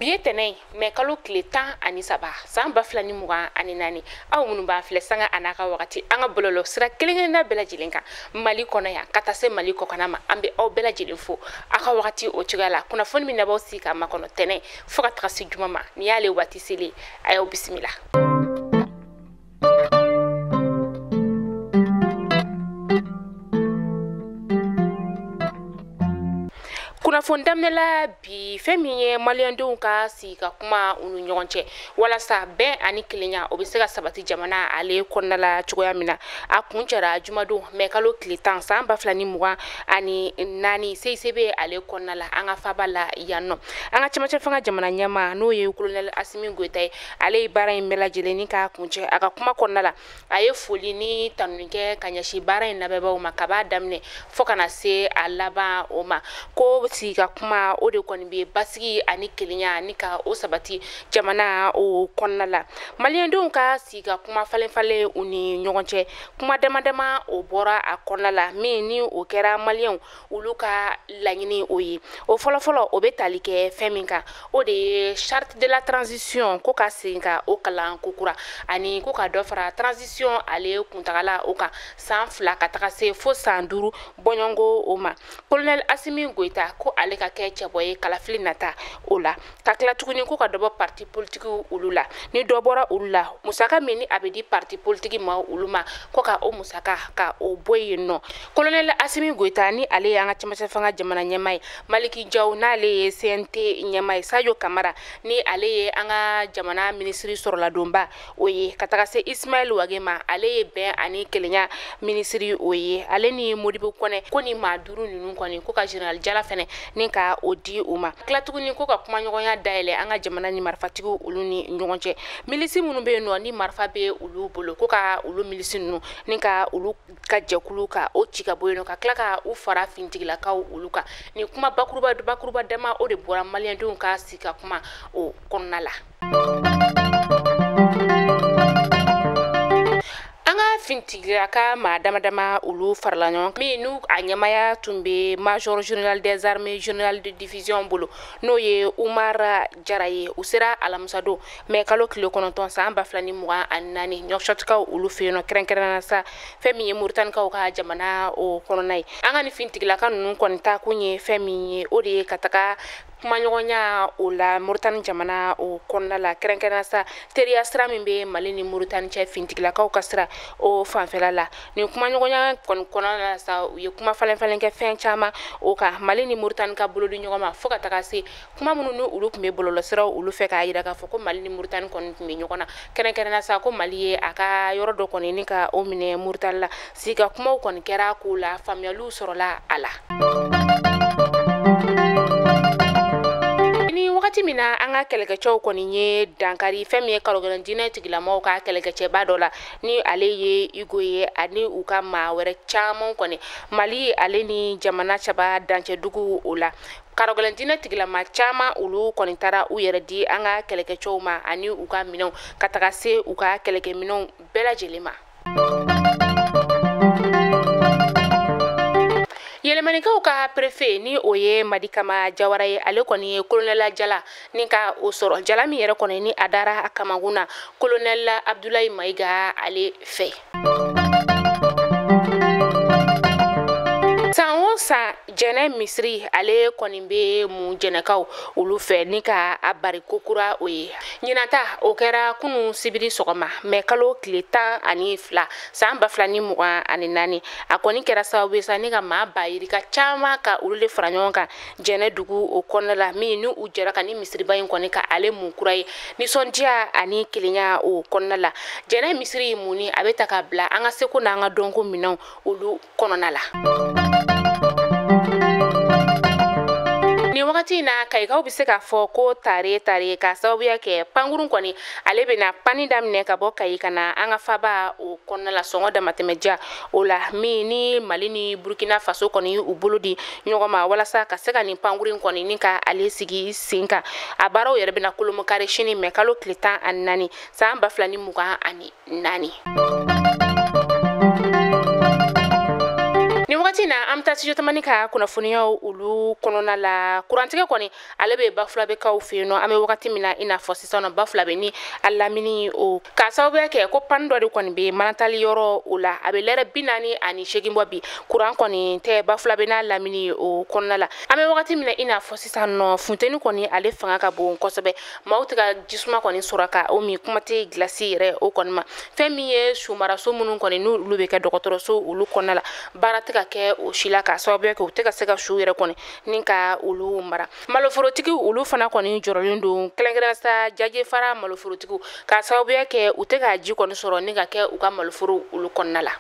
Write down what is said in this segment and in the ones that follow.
bi ye tɛnɛ ye mɛ kalo tile tan ani saba san ba fila ni mugan ani naani aw minnu b'an filɛ sanga an'a ka wagati an ka bɔlɔlɔ sira kelenkelenna bɛɛ lajɛlen kan mali kɔnɔ yan ka taa se mali kɔkana ma an be aw bɛɛ lajɛlen fo a ka wagati o cogoya la kunnafoni min n'a b'aw sigi k'a makɔnɔ tɛnɛ fɔɔ ka taga se juma ma ni y'ale waati selen a y'aw bisimila kunnafoni daminɛla bi fɛn min ye maliyɛndenw ka sigi ka kuma u ni ɲɔgɔn cɛ walasa bɛn ani kelenya o bɛ se ka sabati jamana ale kɔnɔna la cogoya min na a kuncɛra jumadon mɛ kalo tile tan san ba fila ni mugan ani naani cicb ale kɔnɔna la an ka faba la yan nɔ an ka cɛmancɛ fanga jamana ɲɛma n'o ye kolonɛli asimi goyita ye ale ye baara in bɛɛ lajɛlen ni k'a kuncɛ a ka kuma kɔnɔna la a ye foli ni tanuni kɛ ka ɲɛsin baara in labɛnbaaw ma kab'a daminɛ fɔɔ ka na se a laban o ma ko sigi ka kuma o de kɔni be basigi ani kelenya ni ka o sabati jamana o kɔnɔna la maliyɛndenw ka sigi ka kuma falen falen u ni ɲɔgɔn cɛ kuma dama dama o bɔra a kɔnɔna la min ni o kɛra maliyɛnw olu ka laɲini o ye o fɔlɔfɔlɔ o bɛ tali kɛ fɛn min kan o de ye charte de la transition ko ka segin ka o kalan kokura ani ko ka dɔ fara transition ale kuntagala o kan san fila ka taga se fo san duuru bɔɲɔngo o ma colonel asimi goyita ko ale ka kɛ cɛbɔ ye kalafili nata o la ka tila tuguni ko ka dɔ bɔ parti politiki olu la ni dɔ bɔra olu la musaka min ni a bɛ di parti politiki ma olu ma ko ka o musaka ka o bɔ yen nɔ kolonɛli asimi goyita ni ale y'an ka cɛmancɛ fanga jamana ɲɛma ye maliki jaw n'ale ye cnt ɲɛma ye sajo kamara ni ale ye an ka jamana minisiri sɔrɔladonba o ye ka taga se ismaɛl wage ma ale ye bɛn ani kelenya minisiri o ye ale ni modibo kɔnɛ ko ni maa duuru nunu kɔni ko ka general jala fɛnɛ ni ka o di u ma tila tuguni ko ka kumaɲɔgɔnya dayɛlɛ an ka jamana ni marifatigiw olu ni ɲɔgɔn cɛ milisi minnu be yen nɔ ni marifa be olu bolo ko ka olu milisi nunu ni ka olu ka jɛkulu ka o ci ka bɔ yen nɔ ka tila ka u fara fintigilakaw olu kan ni kuma bakuruba bakuruba dama o de bɔra maliyɛndenw ka si ka kuma o kɔnɔna la fintigilaka maa dama dama olu farala ɲɔgɔn min n'u a ɲɛmaya tun bɛ major general des armées general de division bolo n'o ye umar jara ye u sera alamisadon mɛ kalo tile kɔnɔntɔn san ba fila ni mugan ani naani nuwakisɔtikaw olu fɛ yen nɔ kɛrɛnkɛrɛnna sa fɛn min ye moritanikaw ka jamana o kɔnɔna ye an ka ni fintigilaka ninnu kɔni taa kun ye fɛn min ye o de ye ka taga kumaɲɔgɔnya o la moritani jamana o kɔnɔna la kɛrɛnkɛrɛnna sa teriya sira min bɛ mali ni moritani cɛ fintigilakaw ka sira o fanfɛla la nin kumaɲɔgɔnya kɔni kɔnɔna la sa u ye kuma falenfalen kɛ fɛn caman o kan mali ni moritani ka bolodi ɲɔgɔn ma fo ka taga se kuma minnu ni olu tun bɛ bɔlɔlɔsiraw olu fɛ k'a yira k'a fɔ ko mali ni moritani kɔni tun bɛ ɲɔgɔn na kɛrɛnkɛrɛnna sa ko mali ye a ka yɔrɔ dɔ kɔni ni ka o minɛ moritani la Sika kumaw kɔni kɛra ko o la faamuyaliw sɔrɔla a la. Ni wagati min na an ka kɛlɛkɛcɛw kɔni ye dankari fɛn min ye karɔgɛlɛn diinɛ tigilamaw ka kɛlɛkɛcɛba dɔ la ni ale ye Igo ye ani u ka maa wɛrɛ caman kɔni Mali ale ni jamana saba dancɛ duguw o la karɔgɛlɛn diinɛ tigilama caman olu kɔni taara u yɛrɛ di an ka kɛlɛkɛcɛw ma ani u ka minɛnw ka taga se u ka kɛlɛkɛminɛnw bɛɛ lajɛlen ma yɛlɛmanikaw ka perefe ni o ye madikama jawara ye ale kɔni ye kolonɛla jala ni ka o sɔrɔ jala min yɛrɛ kɔni ni a dara a kamakun na kolonɛla abdulayi mayiga ale fɛ san o san jɛnɛ misiri ale kɔni bɛ mun jɛnɛkaw olu fɛ ni ka a bari kokura o ye ɲinan ta o kɛra kunu sibiri sɔgɔma mɛ kalo tile tan ani fila saan ba fila ni mugan ani naani a kɔni kɛra sababu ye sa ni ka maa ba yirika caaman ka olu le fara ɲɔgɔn kan jɛnɛ dugu o kɔnɔna la min ni u jɛra ka ni misiriba ɲi kɔni ka ale mun kura ye nisɔndiya ani kelenya o kɔnɔna la jɛnɛ misiri muni a be ta ka bila an ka seko n'an ka dɔnko minɛnw olu kɔnɔna la nin wagati in na kayikaw be se k'a fɔ ko tare tare k'a sababuya kɛ pankurun kɔni ale bena pani daminɛ ka bɔ kayi ka na an ka faaba o kɔnɔna la sɔngɔ damatɛmɛja o la min ni mali ni burkina faso kɔni u bolo di ɲɔgɔn ma walasa ka se ka nin pankurin kɔni ni ka ale sigi sen kan a baaraw yɛrɛ bena kolomokari sini mɛ kalo tile tan ani naani saan ba fila ni mugan ani naani nin wagati na an bɛ taa studio tamani ka kunnafoniyaw olu kɔnɔna la kurantigɛ kɔni ale bɛ bafulabɛkaw fɛ yen nɔ an bɛ wagati min na i n'a fɔ sisan nɔ bafulabɛ ni a lamini o k'a sababuya kɛ ko pani dɔ de kɔni bɛ manantali yɔrɔ o la a bɛ lɛrɛ bi naani ani seegin bɔ bi kuran kɔni tɛ bafulabɛ n'a lamini o kɔnɔna la an bɛ wagati min na i n'a fɔ sisan nɔ funteni kɔni ale fanga ka bon kosɛbɛ maaw tɛ ka jisuma kɔni sɔrɔ ka o min kuma tɛ gilasi yɛrɛ o kɔni ma fɛn min ye sumaraso minnu kɔni n'olu bɛ kɛ dɔgɔtɔrɔso olu kɔnɔna la baara tɛ ka kɛ o si la k'a sababuya kɛ u tɛ ka se ka su yɛrɛ kɔni ni ka olu mara maloforotigi olu fana kɔni jɔrɔlen don kɛrɛnkɛrɛnna sa jajefara maloforotigiw ka sababuya kɛ u tɛ ka ji kɔni sɔrɔ ni ka kɛ u ka maloforo olu kɔnɔna la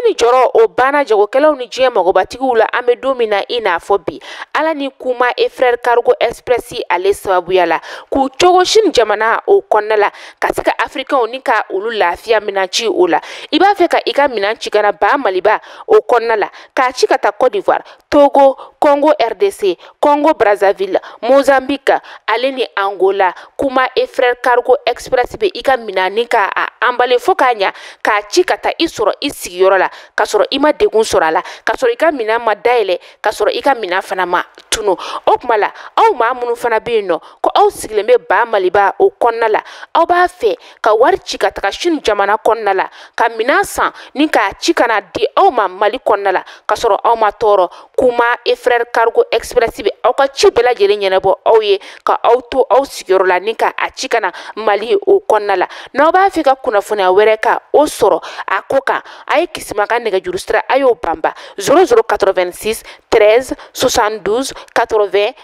ni jɔrɔ o banna jagokɛlaw ni diɲɛ magobatigiw la an bɛ don min na i n'a fɔ bi ala ni kouma et frères cargo express ale sababuya la k'u cogo chine jamana o kɔnɔna la ka se ka afirikɛnw ni ka olu lafiya minan ci o la i b'a fɛ ka i ka minan ci ka na ba maliba o kɔnɔna la k'a ci ka taa cote d'ivoire togo congo rdc Congo Brazzaville, Mozambique, ale ni Angola, kouma et frères cargo express bɛ i ka minan ni ka a emballer fo k'a ɲa k'a ci ka taa i sɔrɔ i sigiyɔrɔ la ka sɔrɔ i ma degun sɔrɔ a la ka sɔrɔ i ka minan ma dayɛlɛ ka sɔrɔ i ka minan fana ma tunu o kuma la aw maa minnu fana bɛ yen nɔ ko aw sigilen bɛ ba maliba o kɔnɔna la aw b'a fɛ ka wari ci ka taga chine jamana kɔnɔna la ka minan san ni k'a ci ka na di aw ma mali kɔnɔna la ka sɔrɔ aw ma tɔɔrɔ kouma et frères cargo express bɛ aw ka ci bɛɛ lajɛlen ɲɛnabɔ aw ye ka aw to aw sigiyɔrɔ la ni ka a ci ka na mali o kɔnɔna la n'aw b'a fɛ ka kunnafoniya wɛrɛ ka o sɔrɔ a ko kan a ye kisima ka nɛgɛjuru sira a y'o banba 0086 13 72 80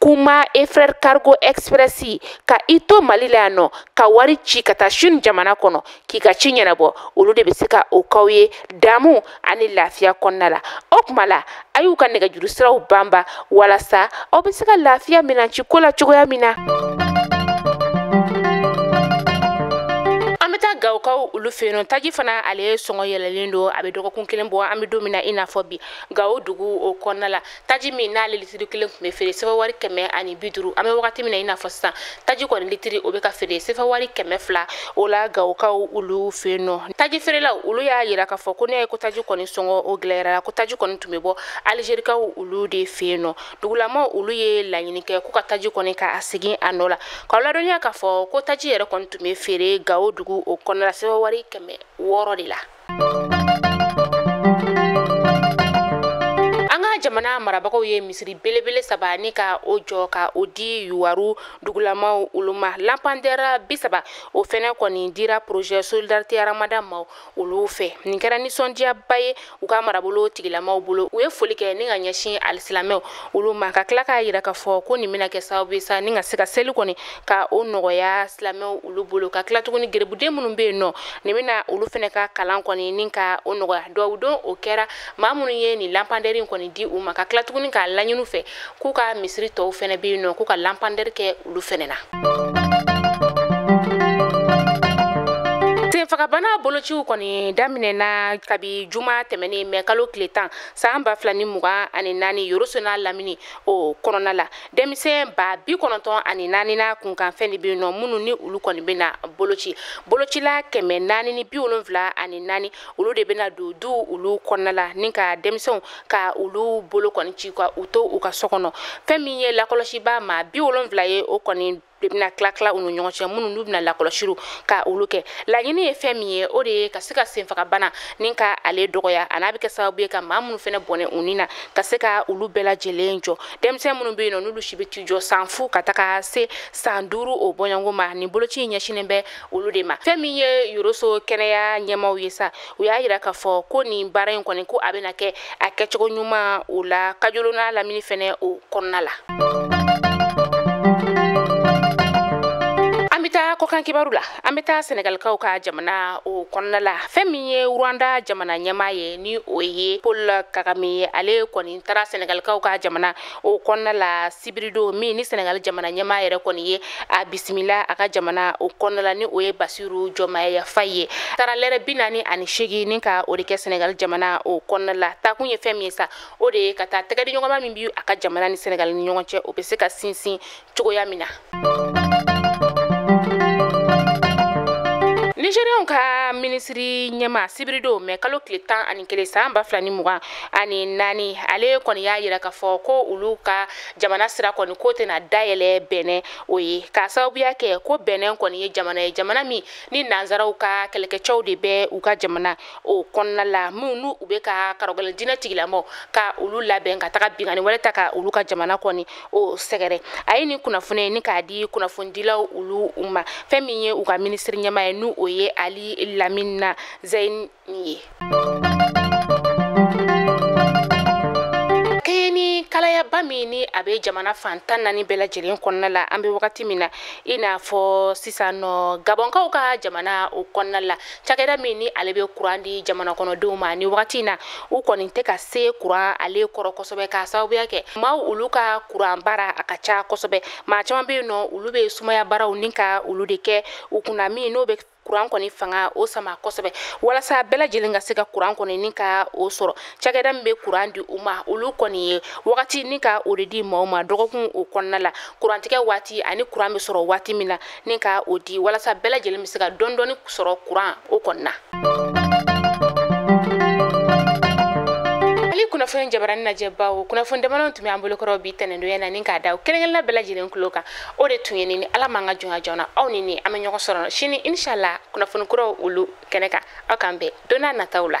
kouma et frères cargo express ka i to mali la yan nɔ ka wari ci ka taa chine jamana kɔnɔ k'i ka ci ɲɛnabɔ olu de bɛ se ka o k'aw ye damu ani lafiya kɔnɔna la o kuma la a y'u ka nɛgɛjuru siraw banba walasa aw bɛ se ka lafiya minanci ko la cogoya min na gawokaw olu fɛ yen nɔ taji fana ale sɔngɔ yɛlɛlen don a bɛ dɔgɔkun kelen bɔ an bɛ don min na i n'a fɔ bi gawo dugu o kɔnɔna la taji min n'ale litiri kelen tun bɛ feere sefa wari kɛmɛ ani bi duuru an bɛ wagati min na i n'a fɔ sisan taji kɔni litiri o bɛ ka feere sefa wari kɛmɛ fila o la gawokaw olu fɛ yen nɔ taji feerelaw olu y'a yira k'a fɔ ko n'i y'a ye ko taji kɔni sɔngɔ o gɛlɛyara ko taji kɔni tun bɛ bɔ alizerikaw olu de fɛ yen nɔ dugulamaw olu ye laɲini kɛ ko ka taji kɔni ka segin a nɔ la k'aw ladɔnniya k'a fɔ ko taji yɛrɛ kɔni tun bɛ feere gawo dugu o kɔnɔna la sefa wari kɛmɛ wɔɔrɔ de la jamana marabagaw ye misiri belebele saba ni ka o jɔ ka o di yuwaru dugulamaw olu ma lanpandɛra bi saba o fɛnɛ kɔni dira projet solidarité ramadan maaw olu fɛ nin kɛra nisɔndiyaba ye u ka marabolo tigilamaw bolo u ye foli kɛ ni ka ɲɛsin alisilamɛw olu ma ka tila k'a yira k'a fɔ ko nin bɛna kɛ sababu ye sa ni ka se ka seli kɔni ka o nɔgɔya silamɛw olu bolo ka tila tuguni gerebuden minnu bɛ yen nɔ nin bɛna olu fɛnɛ ka kalan kɔni ni ka o nɔgɔya duwawu don o kɛra maa minnu ye nin lampandɛri kɔni di u ma ka tila tuguni k'a laɲini u fɛ k'u ka misiri tɔw fɛnɛ bɛ yen nɔ k'u ka lampandɛri kɛ olu fɛnɛ na senfagabana bolociw kɔni daminɛna kabi juma tɛmɛnen mɛ kalo tile tan san ba fila ni mugan ani naani yoroso n'a lamini o kɔnɔna la denmisɛn ba bi kɔnɔntɔn ani naani n'a kunkanfɛn de bɛ yen nɔ minnu ni olu kɔni bɛna boloci bolocila kɛmɛ naani ni bi wolonwula ani naani olu de bɛna don du olu kɔnɔna la ni ka denmisɛnw ka olu bolo kɔni ci ka u to u ka so kɔnɔ fɛn min ye lakɔlɔsibaa maa bi wolonwula ye o kɔni de bɛna tila tila u ni ɲɔgɔn cɛ minnu n'u bɛna lakɔlɔsiw ka olu kɛ laɲini ye fɛn min ye o de ye ka se ka senfagabana ni ka ale dɔgɔya an'a bɛ kɛ sababu ye ka maa minnu fɛnɛ bɔnɛ u ni na ka se ka olu bɛɛ lajɛlen jɔ denmisɛn minnu bɛ yen nɔ n'olu si bɛ t'i jɔ san fu ka taga se san duuru o bɔɲɔgɔnko ma nin boloci in ɲɛsinnen bɛ olu de ma fɛn min ye yoroso kɛnɛya ɲɛmaaw ye sa u y'a yira k'a fɔ ko nin baara in kɔni ko a bɛna kɛ a kɛcogo ɲuman o la kajolo n'a lamini fɛnɛ o kɔnɔna la an bɛ taa kɔkan kibaru la an bɛ taa sɛnɛgalikaw ka jamana o kɔnɔna la fɛn min ye rwanda jamana ɲɛmaa ye ni o ye paul kagame ye ale kɔni taara sɛnɛgalikaw ka jamana o kɔnɔna la sibiridon min ni sɛnɛgali jamana ɲɛmaa yɛrɛ kɔni ye a bisimila a ka jamana o kɔnɔna la ni o ye bassirou diomaye faye ye taara lɛrɛ bi naani ani seegin ni ka o de kɛ sɛnɛgali jamana o kɔnɔna la taakun ye fɛn min ye sa o de ye ka taa tɛgɛdiɲɔgɔnma min bi a ka jamana ni sɛnɛgali ni ɲɔgɔn cɛ o bɛ se ka sinsin cogoya min na nigérienw ka minisiri ɲɛmaa sibiridon mɛ kalo tile tan ani kelen san ba fila ni mugan ani naani ale kɔni y'a yira k'a fɔ ko olu ka jamana sira kɔni ko tɛna dayɛlɛ bɛnɛn o ye k'a sababuya kɛ ko bɛnɛn kɔni ye jamana ye jamana min ni nansaraw ka kɛlɛkɛcɛw de bɛ u ka jamana o kɔnɔna la minnu n'u bɛ ka karɔgɛlɛn diinɛ tigilamɔgɔ ka olu labɛn ka taga binkanni wale ta ka olu ka jamana kɔni o sɛgɛrɛ a ye nin kunnafoni in ni k'a di kunnafonidilaw olu ma fɛn min ye u ka minisiri ɲɛmaa ye ni o ye ali lamina zɛyini ye kɛɲɛ ni kalayaba min ni a bɛ jamana fan tan naani bɛɛ lajɛlen kɔnɔna la an bɛ wagati min na i n'a fɔ sisan nɔ gabɔnkaw ka jamana o kɔnɔna la cakɛda min ni ale bɛ kuran di jamana kɔnɔdenw ma nin wagati in na u kɔni tɛ ka se kuran ale kɔrɔ kosɛbɛ k'a sababuya kɛ maaw olu ka kuran baara a ka ca kosɛbɛ maa caman bɛ yen nɔ olu bɛ sumaya baaraw ni ka olu de kɛ u kunna min n'o bɛ kuran kɔni fanga o sama kosɛbɛ walasa bɛɛ lajɛlen ka se ka kuran kɔni ni ka o sɔrɔ cakɛda min bɛ kuran di u ma olu kɔni ye wagati ni ka o de di maaw ma dɔgɔkun o kɔnɔna la kurantigɛ waati ani kuran bɛ sɔrɔ waati min na ni ka o di walasa bɛɛ lajɛlen bɛ se ka dɔɔni dɔɔni sɔrɔ kuran o kɔnɔna mali kunnafoni jabarani lajɛbaw kunnafoni damadɔ tun bɛ an bolokɔrɔ bi tɛnɛndonya na ni k'a d'aw kelenkelenna bɛɛ lajɛlen tulo kan o de tun ye nin ni ala m'an ka jɔnya joona aw ni ni an bɛ ɲɔgɔn sɔrɔ sini inshallah kunnafoni kuraw olu kɛnɛ kan aw k'an bɛn don n'a nataw la